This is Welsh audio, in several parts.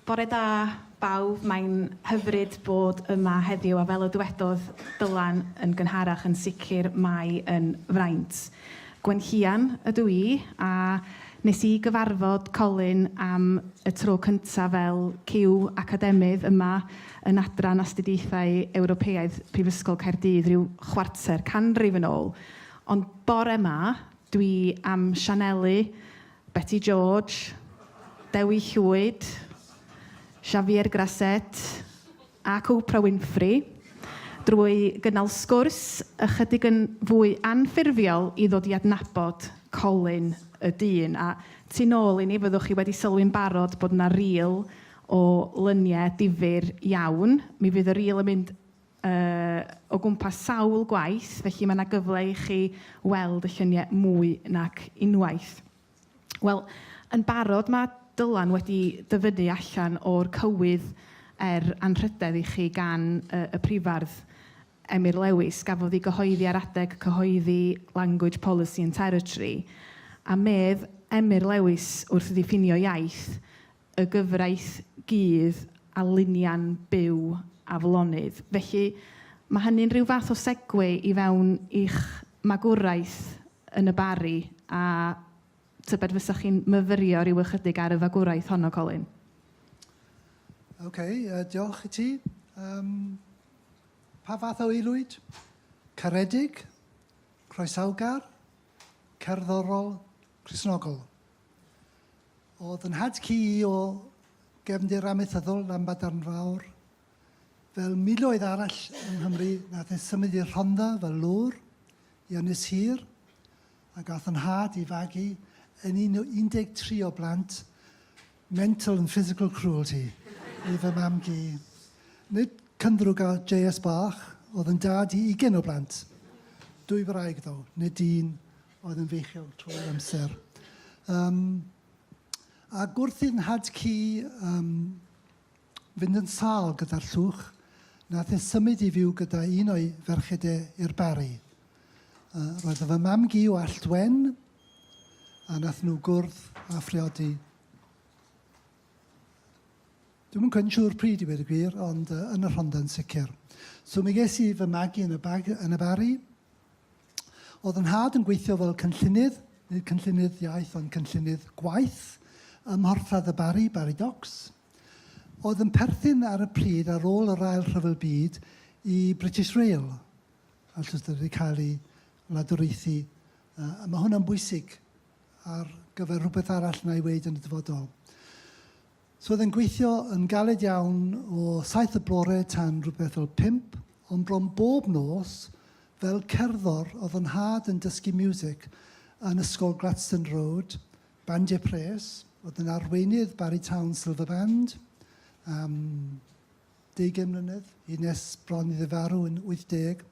Bore da bawb, mae'n hyfryd bod yma heddiw a fel y dywedodd Dylan yn gynharach yn sicr mae yn fraint. Gwenllian ydw i a nes i gyfarfod Colin am y tro cyntaf fel cyw academydd yma yn Adran Astudiaethau Ewropeaidd Prifysgol Caerdydd ryw chwarter canrif yn ôl ond bore 'ma Dwi am Sianeli, Beti George, Dewi Llwyd, Xavier Grasset ac Oprah Winfrey drwy gynnal sgwrs ychydig yn fwy anffurfiol i ddod i adnabod Colin y dyn. A tu nôl i ni fyddwch chi wedi sylwi'n barod bod 'na rîl o lyniau difyr iawn. Mi fydd y rîl yn mynd o gwmpas sawl gwaith, felly mae 'na gyfle i chi weld y lluniau mwy nac unwaith. Wel, yn barod mae Dylan wedi dyfynnu allan o'r cywydd er anrhydedd i chi gan y y Prifardd Emyr Lewis. Gafodd ei gyhoeddi ar adeg cyhoeddi Language Policy and Territory, a medd Emyr Lewis wrth ddiffinio iaith, y gyfraith gudd a lunia'n byw aflonydd. Felly, mae hynny'n rhyw fath o segwe i fewn i'ch magwraeth yn y Barri, a tybed fysa chi'n myfyrio rhyw ychydig ar y fagwraeth honno, Colin? OK, uh, diolch i ti. Um, pa fath o aelwyd? Caredig, croesawgar, cerddorol, Crisnogol. Oedd yn nhad cu i o gefndir amaethyddol Lanbadarn Fawr. Fel miloedd arall yng Nghymru, nath e symud i'r Rhondda fel lwr i Ynys Hir, a gath yn nhad i fagu yn un o 13 o blant mental and physical cruelty i fy mam-gu. Nid cynddrwg ar JS bach, oedd yn dad i ugain o blant. Dwy wraig ddo, nid un. oedd yn feichiog trwy'r amser. Um, a gwrthi'n nhad ci um, fynd yn sal gyda'r llwch, nath e symud i fyw gyda un o'i ferched e i'r bari. Uh, roedd fy mam gi o Alltwen, a nath nhw gwrdd a phriodi. Dwi'n yn siŵr pryd i wedi gwir, ond uh, yn y Rhondda yn sicr. So mi ges i fy magu yn y, bag, yn y bari, Oedd yn nhad yn gweithio fel cynllunydd, nid cynllunydd iaith ond cynllunydd gwaith, ym Mhorthladd y Barri, Barri Docks. Oedd yn perthyn ar y pryd ar ôl yr Ail Rhyfel Byd i British Rail, a jyst wedi cael ei wladwriaethu. Uh, mae hwnna'n bwysig ar gyfer rhywbeth arall na i weid yn y dyfodol. So oedd e'n gweithio yn galed iawn o saith y bore tan rhywbeth fel pump, ond bron bob nos, fel cerddor, oedd fy nhad yn dysgu miwsig yn Ysgol Gladstone Road, Bandiau Pres, oedd yn arweinydd Barry Town Silver Band am 20 mlynedd, hyd nes bron iddo farw yn 80.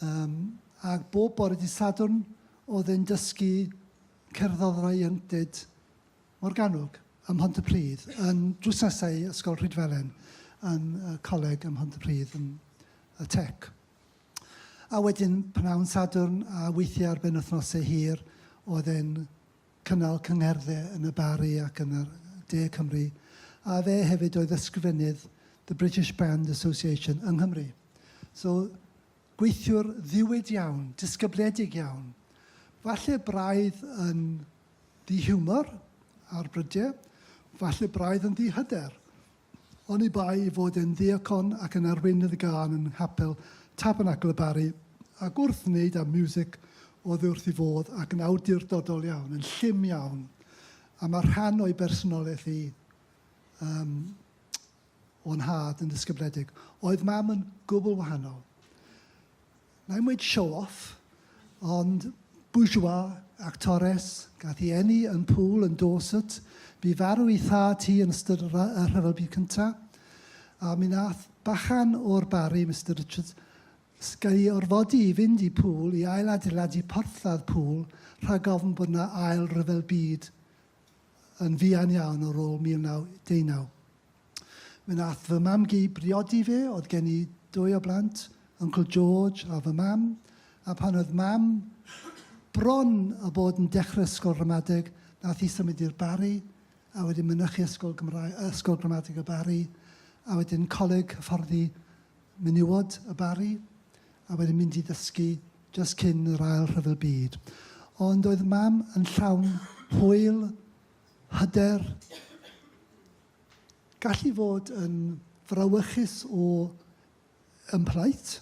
Um, ac bob bore di Sadwrn oedd e'n dysgu cerddorau ieuenctid Morgannwg ym Mhontypridd yn drwsnesu Ysgol Rhydfelen yn y coleg ym Mhontypridd yn y Tech. A wedyn pnawn Sadwrn a weithiau ar ben wythnosau hir oedd e'n cynnal cyngherddau yn y Barri ac yn yr De Cymru a fe hefyd oedd ysgrifennydd The British Band Association yng Nghymru. So gweithiwr ddiwyd iawn, disgybliedig iawn. Falle braidd yn Ddi hiwmor, ar brydie, falle braidd yn ddi hyder, oni bai i fod e'n ddiacon ac yn arweinydd gân yn nghapel Tabernacl y Barri, ac wrth wneud â miwsig oddi wrth ei fodd ac yn awdurdodol iawn, yn llym iawn, a mae rhan o'i bersonoliaeth hi, yym, o nhad yn ddisgybledig. Oedd mam yn gwbl wahanol. Na i'm weud show off, ond bourgeois, actores, gath i eni yn Poole yn Dorset. Bu farw i thad hi yn ystod y Rhyfel Byd Cyntaf. A mi nath bachan o'r Barri, Mister Richards, gael ei orfodi i fynd i Poole i ail-adeiladu porthladd Poole rhag ofn bod 'na ail ryfel byd yn fuan iawn ar ôl 1919. Mi wnaeth fy mam-gu briodi fi, oedd gen i dwy o blant, Uncle George a fy mam, a pan oedd mam bron a bod yn dechrau ysgol ramadeg, wnaeth hi symud i'r Barri, a wedyn mynychu Ysgol Gymraeg, Ysgol Gramadeg y Barri, a wedyn Coleg Hyfforddi menywod y Barri a wedyn mynd i ddysgu jyst cyn yr ail rhyfel byd. Ond oedd mam yn llawn hwyl, hyder, gallu fod yn frawychus o ymplaid,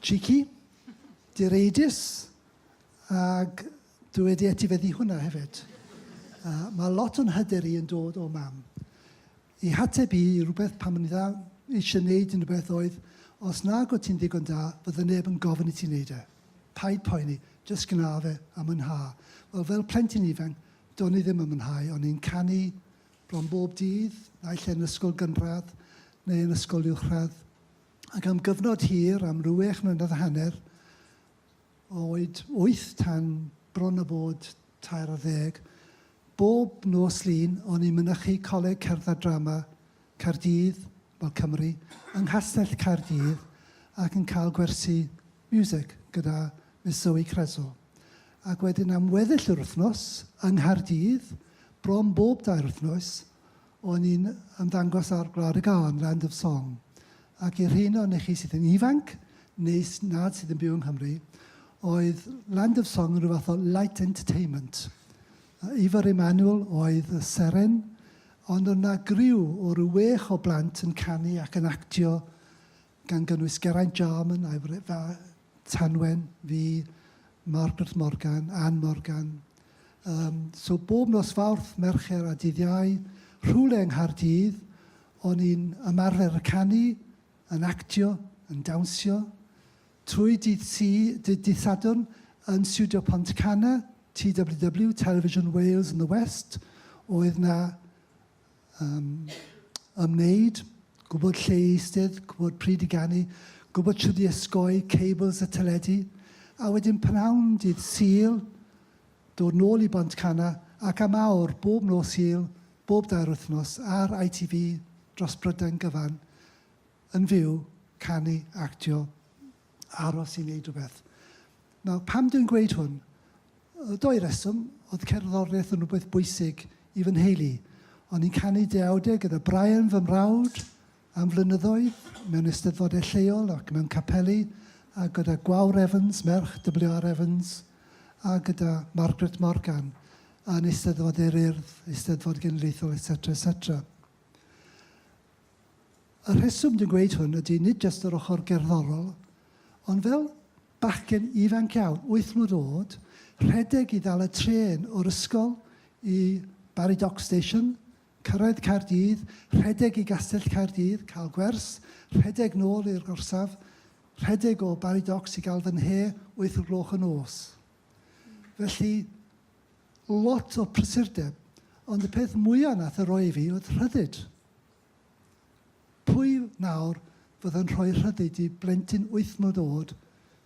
cheeky, direidus, ac dwi wedi etifeddu hwnna hefyd. Uh, mae lot o'n hyder i yn dod o mam. Y hateb i rywbeth pam o'n i dda eisiau neud unrhywbeth oedd, os nag o't ti'n ddigon da, fydde neb yn gofyn i ti neud e. Paid poeni, jyst gwna fe, a mwynha. Wel, fel plentyn ifanc, do'n i ddim yn mwynhau. O'n i'n canu bron bob dydd, naill ai yn ysgol gynradd neu yn ysgol uwchradd. Ac am gyfnod hir, am rywech mlynedd a hanner, oed wyth tan bron a bod tair ar ddeg, bob nos Lun o'n i'n mynychu Coleg Cerdd a Drama Caerdydd, wel Cymru, yng Nghastell Caerdydd ac yn cael gwersi miwsig gyda Miss Zoe Creso. Ac wedyn am weddill yr wythnos, yng Nghaerdydd, bron bob dair wythnos, O'n i'n ymddangos ar Gwlad y Gân, Land of Song, ac i'r rheiny ohonoch chi sydd yn ifanc, neu nad sydd yn byw yng Nghymru, oedd Land of Song yn rhyw fath o light entertainment. Ifor Emmanuel oedd y seren, ond oedd 'na griw o ryw wech o blant yn canu ac yn actio gan gynnwys Geraint Jarman a'i wraig Tanwen, fi, Margaret Morgan, Ann Morgan. Um, so bob nos Fawrth, Mercher a Dydd Iau, rhywle yng Nghaerdydd, o'n i'n ymarfer y canu, yn actio, yn dawnsio, trwy dydd, si, dydd, dydd Sadwrn yn Studio Pont Cana, TWW, Television Wales in the West, oedd na um, ymwneud, gwybod lle i eistedd, gwybod pryd i ganu, gwybod sydd i ysgoi, cables y teledu, a wedyn pnawn dydd Sul, dod nôl i Bont Cana ac am awr bob nos Sul, bob dair wythnos ar ITV dros Brydain gyfan, yn fyw, canu, actio, aros i wneud rhywbeth. Nawr, pam dwi'n gweud hwn? Y doi reswm, oedd cerddoriaeth yn rhywbeth bwysig i fy nheulu. O'n i'n canu deawdau gyda Brian fy mrawd am flynyddoedd mewn eisteddfodau lleol ac mewn capeli, a gyda Gwawr Evans, merch WR Evans, a gyda Margaret Morgan yn Eisteddfod Eryr, Eisteddfod Genedlaethol, etc, etc. Y rheswm dwi'n gweud hwn ydy nid jyst yr ochr gerddorol, ond fel bachgen ifanc iawn, wyth mlwydd oed, rhedeg i ddal y trên o'r ysgol i Barry Dock Station, cyrraedd Caerdydd, rhedeg i Gastell Caerdydd, cael gwers, rhedeg nôl i'r gorsaf, rhedeg o Barry Docks i gael fy nhe wyth o gloch y nos. Felly, lot o prysurdeb, ond y peth mwyaf nath y roi i fi oedd rhyddid. Pwy nawr fydd yn rhoi rhyddid i blentyn wyth mlwydd oed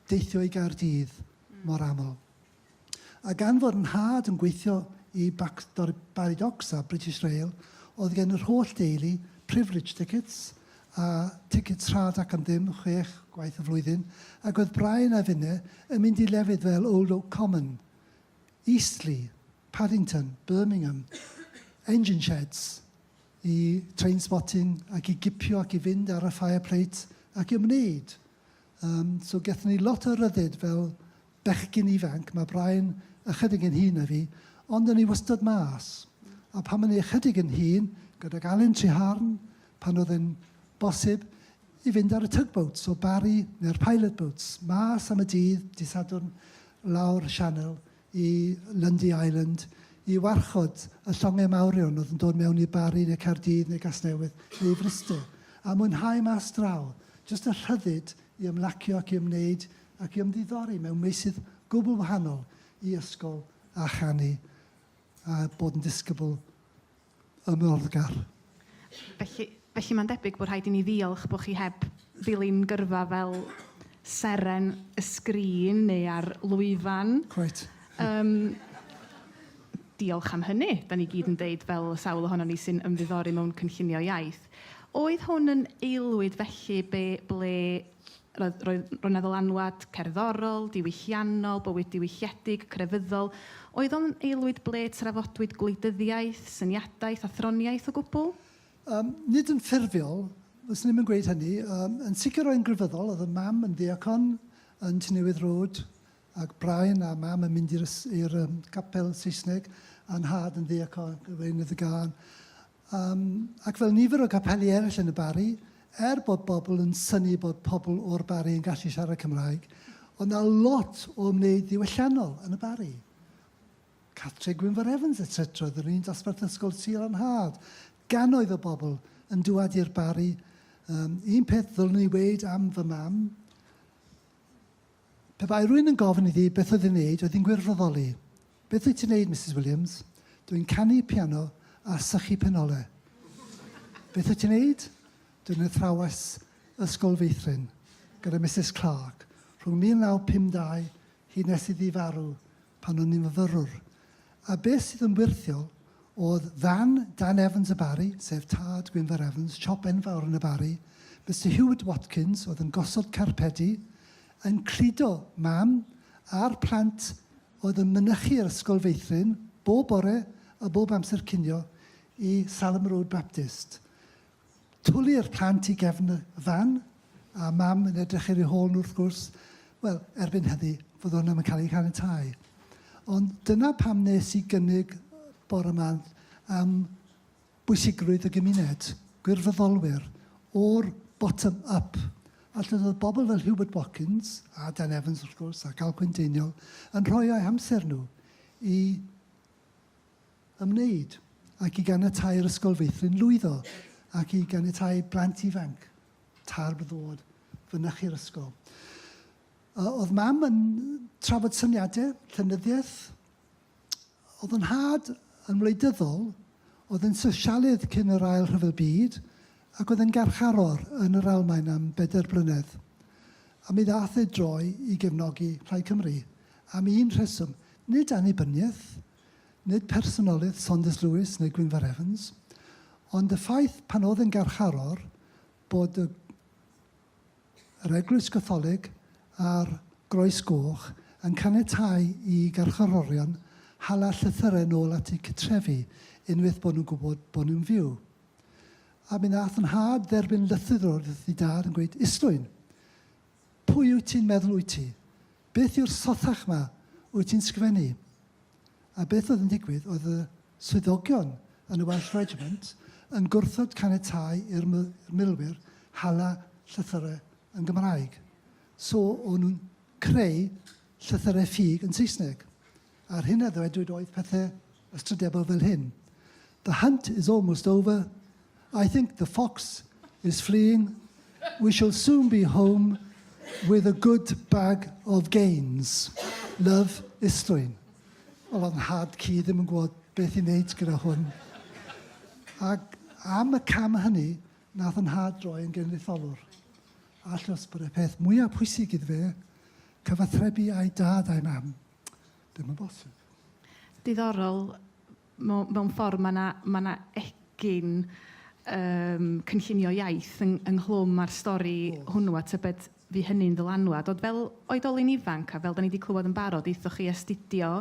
deithio i Gaerdydd mor aml? A gan fod 'nhad yn gweithio i Backstory Barry Docks a British Rail, oedd gen yr holl deulu privilege tickets, a tickets rhad ac am ddim, chwech gwaith y flwyddyn, ac oedd Brian a finne yn mynd i lefydd fel Old Oak Common, Eastleigh, Paddington, Birmingham, Engine Sheds, i Trainspotting ac i gipio ac i fynd ar y fire plate ac i ymwneud. Um, so gethon ni lot o ryddid fel bechgyn ifanc, mae Brian ychydig yn hun na fi, ond o'n i wastad mas. A pan o'n i ychydig yn hun, gydag Alun Triharn, pan oedd yn bosib, i fynd ar y tugboats o Barry neu'r pilot boats, mas am y dydd, dydd Sadwrn, lawr y sianel, i Lundy Island i warchod y llongau mawrion oedd yn dod mewn i Bari neu Caerdydd neu Gasnewydd neu i Fryste a mwynhau mas draw, jyst y rhyddid i ymlacio ac i ymwneud ac i ymddiddori mewn meysydd gwbl wahanol i ysgol a chanu a bod yn disgybl ymwthgar. Felly, felly mae'n debyg bod rhaid i ni ddiolch bod chi heb ddilyn gyrfa fel seren y sgrin neu ar lwyfan. Cweit. Um, diolch am hynny, da ni gyd yn deud fel sawl ohono ni sy'n ymddiddori mewn cynllunio iaith. Oedd hwn yn aelwyd felly be, ble Roedd, roedd, roedd 'na ddylanwad cerddorol, diwylliannol, bywyd diwylliedig, crefyddol. Oedd o'n aelwyd ble trafodwyd gwleidyddiaeth, syniadaeth a throniaeth o gwbl? Um, nid yn ffurfiol, fyswn i'm yn gweud hynny. Um, yn sicr roedd yn grefyddol, oedd y mam yn ddiacon yn Tynewydd Road, ac Brian a mam yn mynd i'r um, capel Saesneg, a'n nhad yn ddiacon, Gweinydd y Gân. Yym, ac fel nifer o gapeli eraill yn y Barri, er bod bobl yn synnu bod pobl o'r Barri yn gallu siarad Cymraeg, oedd 'na lot o ymwneud ddiwylliannol yn y Barri. Cathreg Gwynfor Evans, etc, oedd yr un dosbarth ysgol Sul a'n Nhad. Gannoedd o bobl yn dŵad i'r Barri. Yym, un peth ddylwn i weud am fy mam, Pe bai rhywun yn gofyn iddi beth oedd ei wneud, oedd hi'n gwirfoddoli. Beth wyt ti'n wneud, Misus Williams? Dw i'n canu piano a sychu penolau. Beth wyt ti'n wneud? Dw i'n athrawes ysgol feithrin gyda Misus Clarke. Rhwng 1952 hyd nes iddi farw, pan o'n i'n fyfyrwr, a beth sydd yn wyrthiol oedd fan Dan Evans y Barri, sef tad Gwynfor Evans, siop enfawr yn y Barri, Mister Heward Watkins oedd yn gosod carpedi, yn cludo Mam a'r plant oedd yn mynychu yr Ysgol Feithrin bob bore a bob amser cinio i Salem Road Baptist. Twli'r plant i gefn y fan, a Mam yn edrych ar eu hôl nhw wrth gwrs. Wel, erbyn heddi, fod hwn ddim yn cael ei chaniatáu. Ond dyna pam nes i gynnig bore 'ma am bwysigrwydd y gymuned, gwirfoddolwyr, o'r bottom up. A lle oedd bobl fel Hubert Watkins, a Dan Evans wrth gwrs, ac Alcwyn Deiniol, yn rhoi eu hamser nhw i ymwneud, ac i ganiatáu'r ysgol feithrin lwyddo, ac i ganiatáu plant ifanc Tarbh ddod fynychu'r ysgol. Uh, oedd mam yn trafod syniadau, llenyddiaeth. Oedd yn had yn wleidyddol, oedd yn sosialydd cyn yr ail rhyfel byd, ac oedd yn garcharor yn yr Almaen am bedair blynedd. A mi ddath ei droi i gefnogi Rhai Cymru am un rheswm, nid annibyniaeth, nid personolydd Saunders Lewis neu Gwynfor Evans, ond y ffaith pan oedd yn garcharor bod y yr Eglwys Gatholig a'r Groes Goch yn caniatáu i garcharorion hala llythyrau nôl at eu cytrefi unwaith bod nhw'n gwybod bod nhw'n fyw. A mi nath yn nhad dderbyn lythyr o'r ddi dad yn gweud, Islwyn, pwy wyt ti'n meddwl wyt ti? Beth yw'r sothach 'ma wyt ti'n sgrifennu? A beth oedd yn digwydd oedd y swyddogion yn y Welsh Regiment yn gwrthod caniatáu i'r milwyr hala llythyrau yn Gymraeg, so o'n nhw'n creu llythyrau ffug yn Saesneg. a'r hyn a ddwedwyd oedd pethe ystrydebol fel hyn, The hunt is almost over, I think the fox is fleeing, we shall soon be home with a good bag of gains. Love, Istrwyn. Wel, oedd nhad ci ddim yn gwybod beth i wneud gyda hwn. Ac am y cam hynny, nath yn nhad droi yn genedlaetholwr. Allwch bod y peth mwyaf pwysig iddo fe, cyfathrebu a'i dad a'i mam. Ddim yn bosib. Diddorol, mewn, mewn ffordd mae yna ma na egin um, cynllunio iaith yng, ynghlwm â'r stori oh. hwnnw a tybed fi hynny'n ddylanwad. Ond fel oedolyn ifanc a fel da ni wedi clywed yn barod, eithoch chi astudio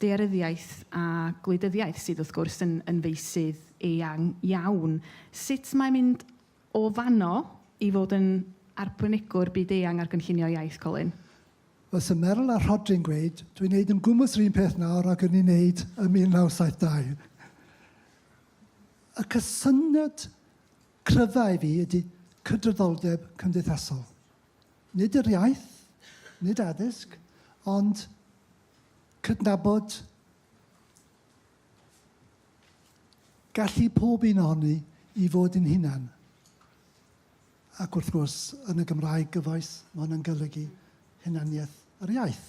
dearyddiaeth a gwleidyddiaeth sydd wrth gwrs yn, yn feisydd eang iawn. Sut mae mynd O fanno i fod yn arbenigwr byd-eang ar gynllunio iaith, Colin? Fel sy Meryl a Rhodri'n gweud, dwi'n neud yn gwmws yr un peth nawr ag o'n i'n neud ym 1972. Y cysyniad cryfa i fi ydi cydraddoldeb cymdeithasol. Nid yr iaith, nid addysg, ond cydnabod Gallu pob un ohoni i fod yn hunan. Ac wrth gwrs, yn y Gymraeg gyfoes, ma' hwnna'n golygu hunaniaeth yr iaith.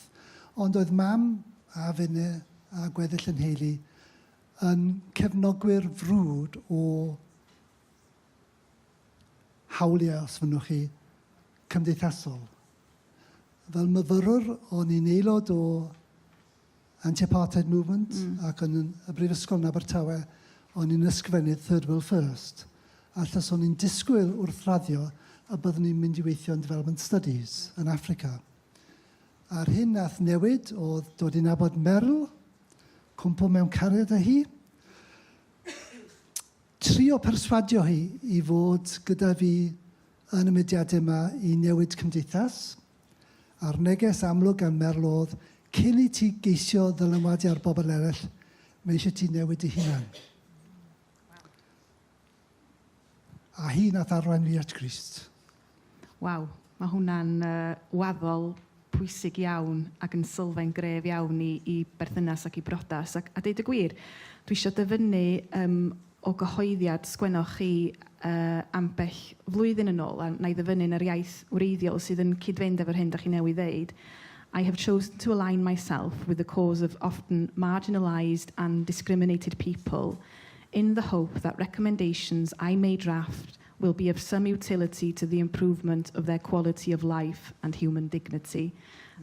Ond oedd mam a finne a gweddill y nheulu yn cefnogwyr frwd o hawliau, os fynnwch chi, cymdeithasol. Fel myfyrwr, o'n i'n aelod o anti-apartheid movement mm. ac yn y brifysgol yn Abertawe, o'n i'n ysgrifennydd Third World First. A llys o'n i'n disgwyl wrth raddio a byddwn ni'n mynd i weithio yn Development Studies yn Africa. A'r hyn nath newid oedd dod i'n abod Merl, cwmpo mewn cariad â hi, trio perswadio hi i fod gyda fi yn y mediadau yma i newid cymdeithas, a'r neges amlwg gan Merl oedd, cyn i ti geisio ddylanwadu ar bobl eraill, mae eisiau ti newid dy hunan. A hi nath arwain fi at Grist. Waw, mae hwnna'n uh, waddol pwysig iawn ac yn sylfaen gref iawn i, i berthynas ac i brodas. Ac, a deud y gwir, dwi eisiau dyfynnu um, o gyhoeddiad sgwennoch chi ambell flwyddyn yn ôl, a wna i ddyfynnu yn yr iaith wreiddiol sydd yn cyd-fynd efo'r hyn da chi newydd ddeud, I have chosen to align myself with the cause of often marginalised and discriminated people in the hope that recommendations I may draft will be of some utility to the improvement of their quality of life and human dignity.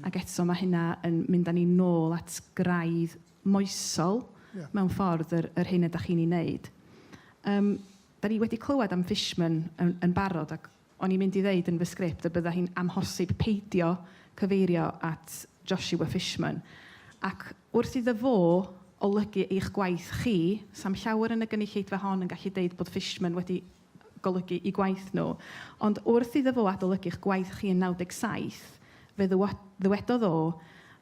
Ac eto, mae hynna yn mynd â ni nôl at graidd moesol... Ie. ...mewn ffordd, yr yr hyn ydach chi'n ei wneud. Yym, dan ni wedi clywed am Fishman yn yn barod, ac o'n i'n mynd i ddeud yn fy sgript y byddai hi'n amhosib peidio cyfeirio at Joshua Fishman. Ac wrth iddo fo olygu eich gwaith chi, 'sa'm llawer yn y gynulleidfa hon yn gallu deud bod Fishman wedi golygu i gwaith nhw. Ond wrth iddo fo adolygu'ch gwaith chi yn 97, fe ddywedodd o,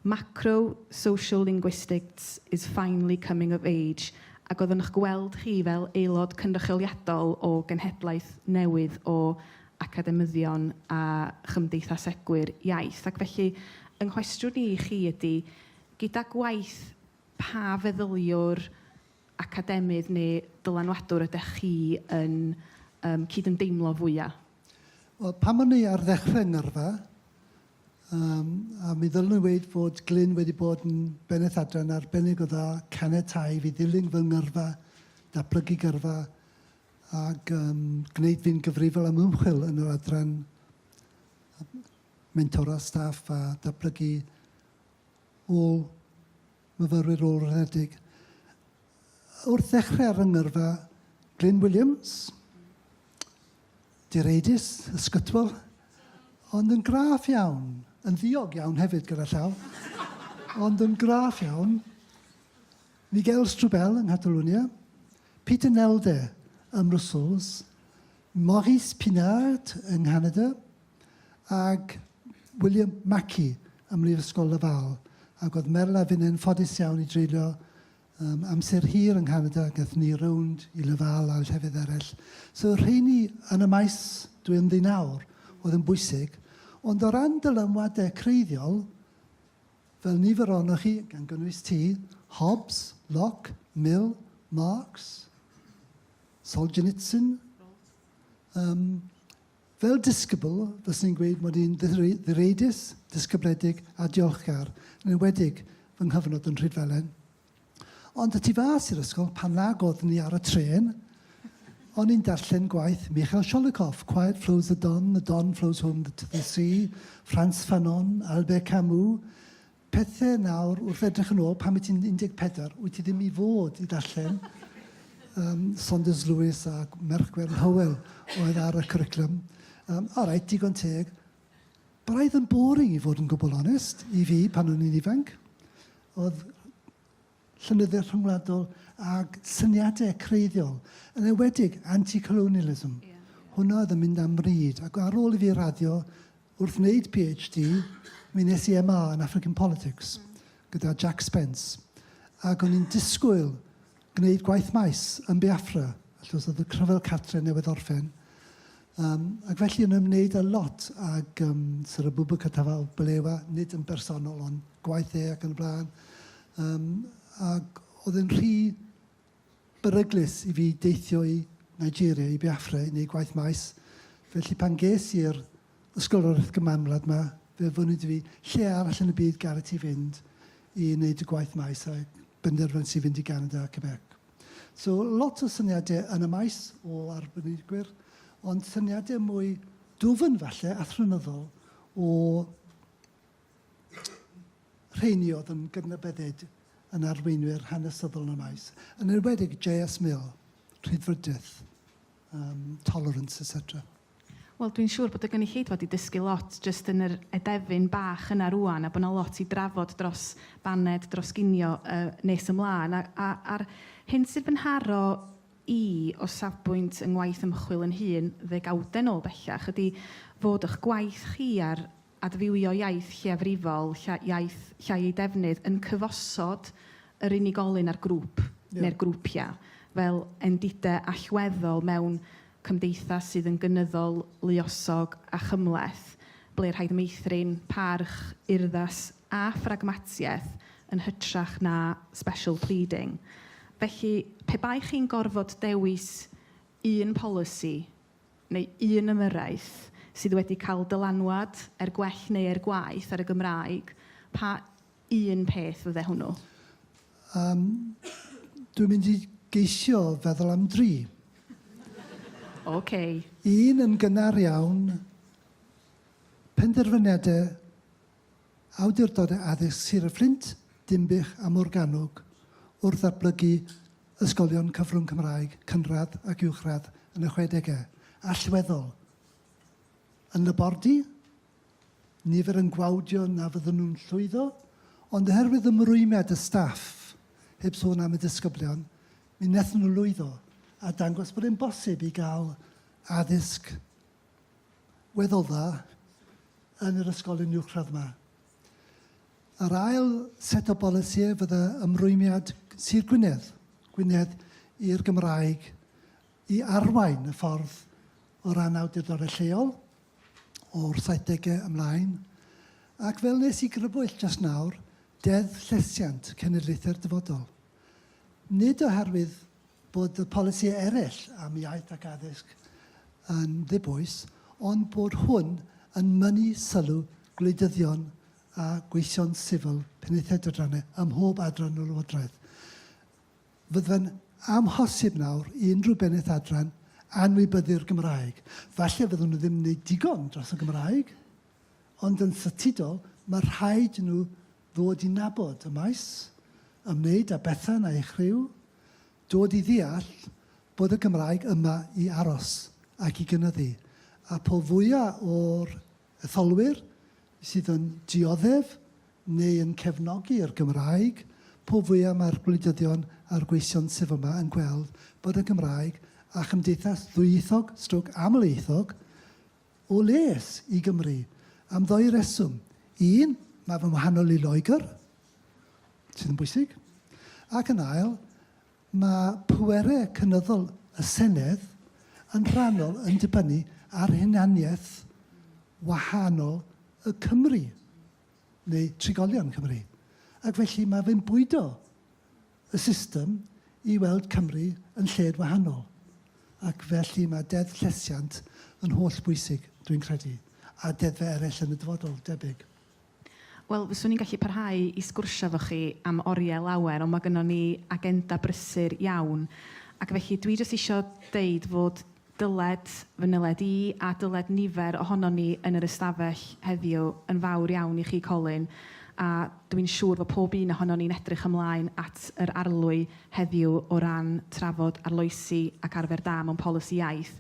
Macro social linguistics is finally coming of age, ac oedd yn 'ch gweld chi fel aelod cynrychioliadol o genhedlaeth newydd o academyddion a chymdeithasegwyr iaith. Ac felly, yng nghwestiwn i i chi ydy, gyda gwaith pa feddyliwr academydd neu ddylanwadwr ydech chi yn yym cydymdeimlo fwya'? Wel, pan o'n i ar ddechrau 'Ngyrfa, yym, a mi ddylwn i weud fod Glyn wedi bod yn Bennaeth Adran arbennig o dda, caniatáu i fi ddilyn fy ngyrfa, datblygu gyrfa, ac um, gwneud fi'n gyfrifol am ymchwil yn yr adran mentora staff a datblygu ôl myfyrwyr ôl-raddedig. Wrth ddechrau ar fy ngyrfa, Glyn Williams, direidus, ysgytwol, ond yn graff iawn, yn ddiog iawn hefyd gyda llaw, ond yn graff iawn, Miguel Strubell yng Nghatalwnia, Peter Nelde ym Mrwswls, Maurice Pinard yng Nghanada, ag William Mackie ym Mhrifysgol Laval, ac oedd Meryl a finnau'n ffodus iawn i dreulio um, amser hir yng Nghanada, gath ni rownd i Laval a llefydd eraill. So rheini yn y maes dwi yn ddyn awr oedd yn bwysig, ond o ran dylanwadau creiddiol, fel nifer ohonoch chi, gan gynnwys ti, Hobbes, Locke, Mill, Marx, Solzhenitsyn, um, Fel disgybl, fyswn i'n gweud mod i'n ddireidus, disgybledig a diolchgar, yn enwedig fy nghyfnod yn Rhydfelen. Ond y tu fas i'r ysgol, pan nag oeddwn ni ar y trên, o'n i'n darllen gwaith Michael Sholikoff, Quiet Flows the Don, The Don Flows Home to the Sea, Frantz Fanon, Albert Camus, Pethe nawr wrth edrych yn ôl, pan wyt ti'n 14, wyt ti ddim i fod i ddarllen yym Saunders Lewis a Merch Gwern Hywel oedd ar y cwricwlwm. Yym, alright, digon teg. Braidd yn boring i fod yn gwbl onest, i fi pan o'n i'n ifanc. Oedd llenyddiaeth rhyngwladol ag syniadau creiddiol, yn enwedig anti-colonialism. Hwnna oedd yn mynd am bryd, ac ar ôl i fi raddio wrth wneud PhD, mi nes i MA yn African Politics gyda Jack Spence, ac o'n i'n disgwyl gwneud gwaith maes yn Biafra, achos oedd y Rhyfel Cartre newydd orffen. Yym, ac felly yn ymwneud â lot ag yym Sir Abubakar Tafaw Balewa, nid yn bersonol ond gwaith e ac yn y blaen, yym ac oedd e'n rhy beryglus i fi deithio i Nigeria, i Biafra i wneud gwaith maes. Felly pan ges i'r ysgoloriaeth gymanwlad yma, fe fynwyd i fi lle arall yn y byd gallet ti fynd i wneud y gwaith maes a benderfynais i fynd i Ganada a Quebec. So lot o syniade yn y maes o arbenigwyr, ond syniade mwy dwfn falle, athronyddol, o rheini oedd yn gydnabyddid yn arweinwyr hanesyddol yn y maes. Yn enwedig J.S. Mill, rhydfrydedd, um, tolerance, etc. Wel dwi'n siŵr bod y gynulleidfa 'di dysgu lot jyst yn yr edefyn bach yna rŵan a bod 'na lot i drafod dros baned, dros ginio yy nes ymlaen. A a a'r hyn sydd fy nharo i o safbwynt yng ngwaith ymchwil yn hun, ddegawdau nôl bellach, ydy fod y'ch gwaith chi a'r adfywio iaith lleiafrifol, lla, iaith llai ei defnydd, yn cyfosod yr unigolyn a'r grŵp, neu'r grwpiau, fel endidau allweddol mewn cymdeithas sydd yn gynyddol luosog a chymhleth, ble rhaid meithrin parch, urddas a phragmatiaeth yn hytrach na special pleading. Felly, pe baech chi'n gorfod dewis un polisi, neu un ymyrraeth sydd wedi cael dylanwad er gwell neu er gwaeth ar y Gymraeg, pa un peth fydde hwnnw? Yym, dwi'n mynd i geisio feddwl am dri. Ocê. Un yn gynnar iawn, penderfyniadau Awdurdodau Addysg Sir y Fflint, Dinbych a Morgannwg wrth ddatblygu ysgolion cyfrwng Cymraeg cynradd ac uwchradd yn y chwedegau, allweddol yn labordy, nifer yn gwawdio na fydden nhw'n llwyddo, ond oherwydd ymrwymiad y staff, heb sôn am y disgyblion, mi wnaethon nhw lwyddo a dangos bod e'n bosib i gael addysg weddol dda yn yr ysgolion uwchradd yma. Yr ail set o bolisïau fydda ymrwymiad Sir Gwynedd, Gwynedd i'r Gymraeg i arwain y ffordd o ran awdurdodau lleol o'r 70au ymlaen, ac fel nes i grybwyll just nawr, Deddf Llesiant Cenedlaethau'r Dyfodol. nid oherwydd bod y polisïau eraill am iaith ac addysg yn ddibwys, ond bod hwn yn mynnu sylw gwleidyddion a gweision sifil Penaethiaid a Dranau ym mhob adran o Lywodraeth. Fyddai'n amhosib nawr i unrhyw bennaeth adran anwybyddu'r Gymraeg. Falle fyddwn nhw ddim yn wneud digon dros y Gymraeg, ond yn statudol, mae rhaid i nhw Ddod i nabod y maes, ymwneud â Bethan a'i chriw, dod i ddeall bod y Gymraeg yma i aros ac i gynyddu, a po fwya' o'r etholwyr sydd yn dioddef neu yn cefnogi'r Gymraeg, po fwya' mae'r gwleidyddion a'r gweision sydd yma yn gweld bod y Gymraeg a chymdeithas ddwyieithog stroc amlieithog O les i Gymru, am ddou reswm. Un, mae fe'n wahanol i Loegr, sydd yn bwysig. Ac yn ail, mae pwerau cynyddol y Senedd yn rhannol yn dibynnu ar hunaniaeth wahanol y Cymry, neu trigolion Cymru. Ac felly mae fe'n bwydo y system i weld Cymru yn lled wahanol, ac felly mae Deddf Llesiant yn holl bwysig, dwi'n credu, a deddfau eraill yn y dyfodol, debyg. Wel, fyswn i'n gallu parhau i sgwrsio efo chi am oriau lawer, ond mae gynnon ni agenda brysur iawn, ac felly dwi jyst isio deud fod Dyled fy nyled i, a dyled nifer ohonon ni yn yr ystafell heddiw, yn fawr iawn i chi, Colin, a dw i'n siŵr fod pob un ohonon ni'n edrych ymlaen at yr arlwy heddiw o ran trafod arloesi ac arfer da mewn polisi iaith,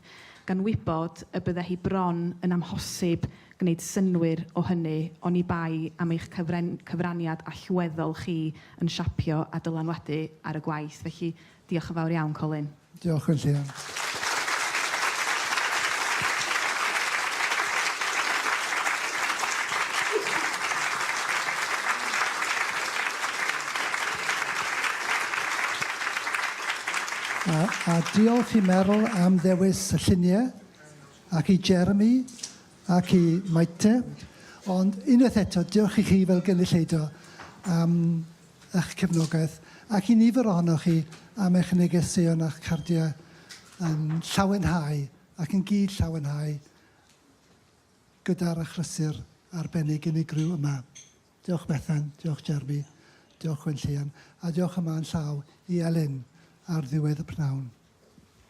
gan wybod y bydde hi bron yn amhosib gwneud synnwyr o hynny oni bai am eich cyfren- cyfraniad allweddol chi yn siapio a dylanwadu ar y gwaith. Felly, Diolch yn fawr iawn, Colin. Diolch yn llwyr. A, a diolch i Meryl am ddewis y lluniau, ac i Jeremy, ac i Maite. Ond unwaith eto, diolch i chi fel gynulleidfa am eich cefnogaeth, ac i nifer ohonoch chi am eich negeseuon a'ch cardiau yn llawenhau ac yn gyd-llawenhau gyda'r achlysur arbennig unigryw yma. Diolch Bethan, diolch Jeremy, diolch Gwenllian, a diolch yma yn llaw i Elin ar ddiwedd y p'nawn.